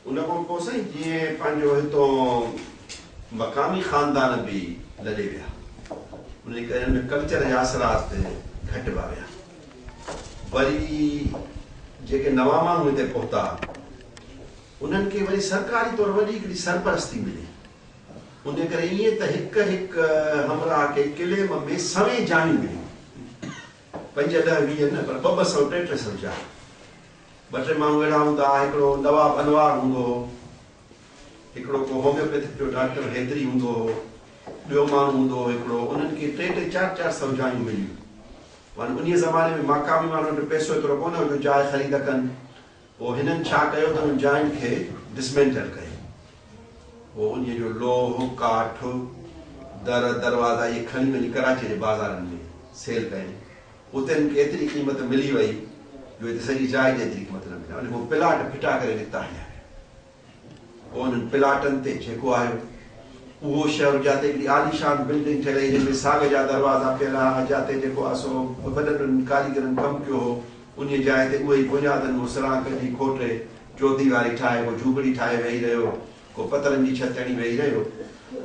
ان کان پوء سائين جيئن پنهنجو هتون مقامي خاندان به لڏي ويا. ان جي ڪري هن ۾ ڪلچر جا اثرات گهٽبا ويا. وري جيڪي نوان ماڻهو هتي پهتا انهن کي وري سرڪاري طور وڏي هڪڙي سرپرستي ملي. ان جي ڪري ائين ته هڪ هڪ همراهه کي قلعي م ۾ سوين جايون مليون. پنج ڏهه ويهه نه پر ٻه ٻه سئو ٽي ٽي سئو جايون. ٻه ٽي ماڻهو اهڙا هوندا ها، هڪڙو دوا ڀنوار هوندو هو، هڪڙو ڪو هوميوپيٿڪ جو ڊاڪٽر حيدري هوندو هو، ٻيو ماڻهو هوندو هو هڪڙو، انهن کي ٽي ٽي چار چار سوجھايون مليون وڃن. انهيء زماني ۾ ماقامي ماڻهن وٽ پئسو ايترو ڪونه هو جو جاء خريد ڪن. پوء هنن ڇا ڪيو ته انهن جاين کي ڊسمينٽل ڪيو. پوء انهيء جو لوهه، ڪاٺ، در، دروازا اهي کڻي وڃي ڪراچيء جي بازارن ۾ سيل ڪيائين. اتي مون کي ايتري قيمت ملي وئي جو اتي سڄي جاء جي ايتري قيمت نه ملي. انهن ڪو پلاٽ ڦٽا ڪري نڪتا هنيا ويا. پوء انهن پلاٽن تي ٺيڪو آيو. اهو شهر جاتي هڪڙي عاليشان بلڊنگ ٺهيل هئي جنهن ۾ ساڳ جا دروازا پيل هئا. جاتي جيڪو آ سو وڏن وڏن ڪاريگرن ڪم ڪيو هو. انهيء جاء تي اهي ئي بنيادن مان سرانگ ڪڍي کوٽي چوديواري ٺاهي پوء جهوپڙي ٺاهي ويهي رهيو. ڪو پترن جي ڇت تڻي ويهي رهيو.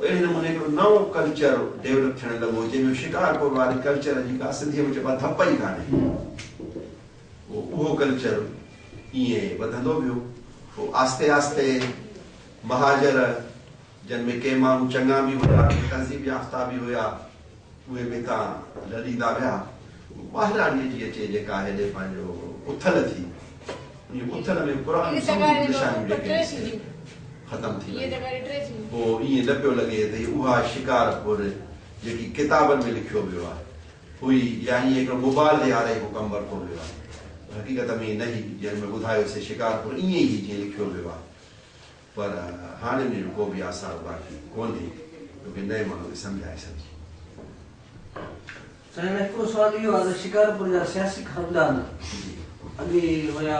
اهڙي نموني هڪڙو نئون ڪلچر ڊيولپ ٿيڻ لڳو جنهن جو شڪارپور واري ڪلچر جي ڪا سنڌيء ۾ چئبا ڌپ ئي ڪانهي. پوء اهو ڪلچر ائين وڌندو ويو. پوء آهستي آهستي مهاجر جن ۾ ڪي ماڻهو چڱا به هيا ڪي تهذيب يافته به هيا. اهي پتا لڏيندا ويا. ٻاهراڙيء جي اچي جيڪا هيڏي پنهنجو اٿل ٿي. انهيء اٿل ۾ پراڻيون سموريون نشانيون جيڪي هيون سي ختم ٿي ويون. پوء ائين نه پيو لڳي ته هي اها شڪارپور جيڪي ڪتابن ۾ لکيو ويو آهي، هئي يا ائين هڪڙو مبالغي هاري ڪو ڪم ورتو ويو آهي. پر حقيقت ۾ ائين نه هئي، جيئن مين ٻڌايو سي شڪارپور ائين ئي هئي جيئن لکيو ويو آهي. پر هاڻ ان جو ڪو به آثار باقي ڪونهي جو ڪنهن نئين ماڻهو کي سمجهائي سگهجي. سائين هاڻي هڪڙو سوال اهو آهي ته شڪارپور جا سياسي خاندان اڳي هيا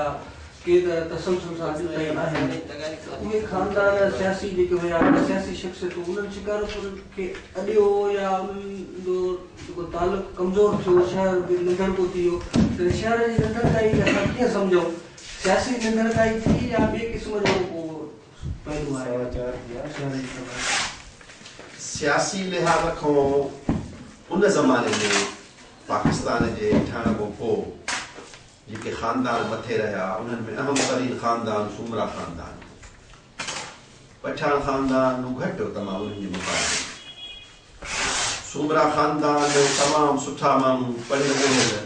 ڪي ته تسلسل سان اڄ تائين آهن ته اهي خاندان سياسي جيڪي هيا يا سياسي شخصيتون انهن شڪارپور کي اڏيو يا انهن جو جيڪو تعلق ڪمزور ٿيو شهر به ننڍڙڪو ٿي ويو ته شهر جي ننڍڙڪائي کي اسان ڪيئن سمجهون. سياسي نندرتائي ٿي يا ٻئي قسم جو ڪو پهلو آهي؟ سوا چار ٿيا شهر جي سڀاء ۾. سياسي لحاظ کان ان زماني ۾ پاڪستان جي ٺهڻ کان پوء جيڪي خاندان مٿي رهيا انهن ۾ اهم ترين خاندان سومرا خاندان هو. پٺيان خاندان مون گهٽ تمام انهن جي مقابلي ۾. سومرا خاندان تمام سٺا ماڻهو پڙهيل ڳڙهيل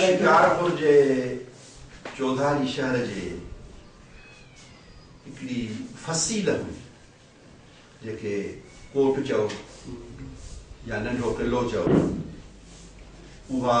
شڪارپور جي چوڌاري شهر جي هڪڙي فصيل هئي جيڪي ڪوٽ چئو يا ننڍو قلعو چئو اها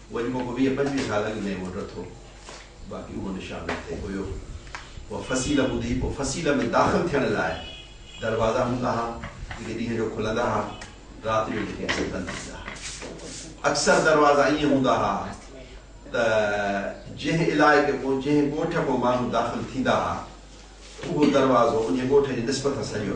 اهو جيڪو ڪو ويهه پنجويهه سال اڳ ۾ اهو ڊٿو باقي اهو نشان اتي هيو اها فصيله ٻڌي پوء فصيله ۾ داخل ٿيڻ لاء دروازا هوندا ها جيڪي ڏينهن جو کلندا ها رات جو جيڪي اسين بند ٿيندا ها اڪثر دروازا ائين هوندا ها ته جنهن علائقي ڪو جنهن ڳوٺ ڪو ماڻهو داخل ٿيندا ها اهو دروازو ان ڳوٺ جي نسبت سان سڄو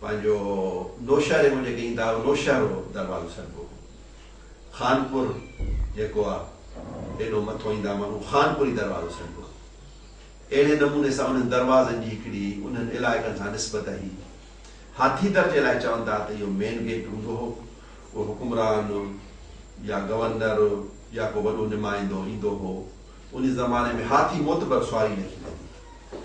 پنهنجو نوشهري مان جيڪي ايندا هئا نوشهرو دروازو سڏبو هو خانپور جيڪو آ ايڏو مٿو ايندا هئا ماڻهو خانپوري دروازو سڏبو هو اهڙي نموني سان انهن دروازن جي هڪڙي انهن علائقن سان نسبت هئي هاٿي در جي لاء چون ٿا ته اهو مين گيٽ هوندو هو اهو حڪمران يا گورنر يا ڪو وڏو نمائندو ايندو هو ان زماني ۾ هاٿي معتبر سواري لکي ويندي هئي.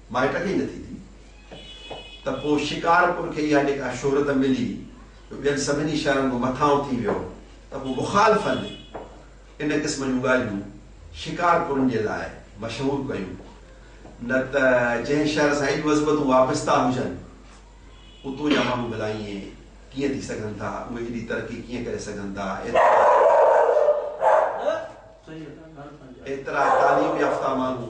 مائٽ کي ئي نٿي ٿي ته پوء شڪارپور کي اها جيڪا شهرت ملي جو ٻين سڀني شهرن کان مٿان اٿي ويو ته پوء مخالفن ان قسم جون ڳالهيون شڪارپورن جي لاء مشهور ڪيون نه ته جنهن شهر سان ايڏيون عظمتون وابسته هجن اتو جا ماڻهو ڀلا ائين ڪيئن ٿي سگهن ٿا اهي ايڏي ترقي ڪيئن ڪري سگهن ٿا ايترا تعليم يافته ماڻهو.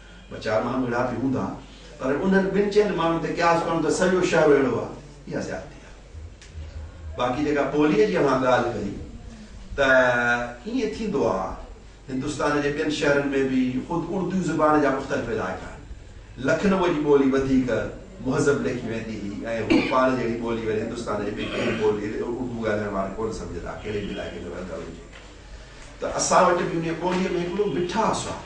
ٻه چار ماڻهو اهڙا به هوندا پر انهن ٻن چئن ماڻهن تي قياس ڪرڻ ته سڄو شهر اهڙو آهي اها زيادتي آهي. باقي جيڪا پوليء جي اوهان ڳالهه ڪئي ته ائين ٿيندو آهي هندستان جي ٻين شهرن ۾ به خود اردو زبان جا مختلف علائقا آهن. لکنوء جي ٻولي وڌيڪ مهذب ليکي ويندي هئي ۽ هوء پاڻ جهڙي ٻولي وري هندستان جي ٻي ڪنهن به ٻولي اردو ڳالهائڻ وارو ڪونه سمجهندا ڪهڙي به علائقي ۾ رهندڙ هجي ته اسان وٽ به انهيء ٻوليء ۾ هڪڙو مٺاس آهي.